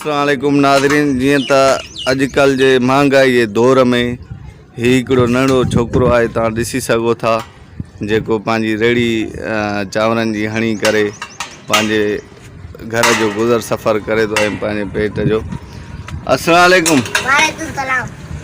السلام عليڪم ناظرين جيئن ته اڄڪلهه جي مهانگائي جي دور ۾ هي هڪڙو ننڍڙو ڇوڪرو آهي تان ڏسي سگهو ٿا جيڪو پنهنجي ريڙي چانورن جي هڻي ڪري پنهنجي گهر جو گذر سفر ڪري ٿو ۽ پنهنجي پيٽ جو السلام عليڪم وعليڪم السلام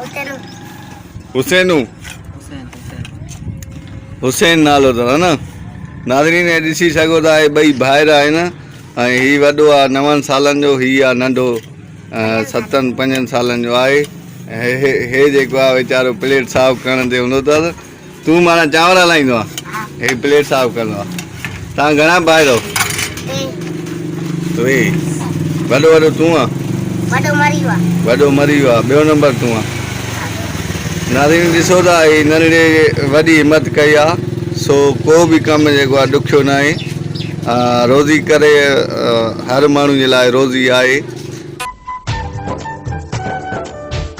حسينو حسينو حسين حسين حسين نالو اٿس ها نه ناظرين هي ڏسي سگهو ٿا هي ٻئي ڀائر آهن ۽ هي وڏو آهي نون سالن جو هي آهي ننڍو ستن پنجن سالن جو آهي هي هي جيڪو آهي ويچارو پليٽ صاف ڪرڻ تي هوندو اٿس تون ماڻا چانور هلائيندو آ هي پليٽ صاف ڪندو آ تان گهڻا ڀائرو ٽي وڏو وڏو تون آ وڏو مري ويو آ وڏو مري ويو آ ٻيو نمبر تون آ ناظرين ڏسو ته هي ننڍڙي وڏي همت ڪئي آ سو ڪو به ڪم جيڪو آ ڏکيو نه آهي روزي ڪري هر ماڻهو جي لاء روزي آهي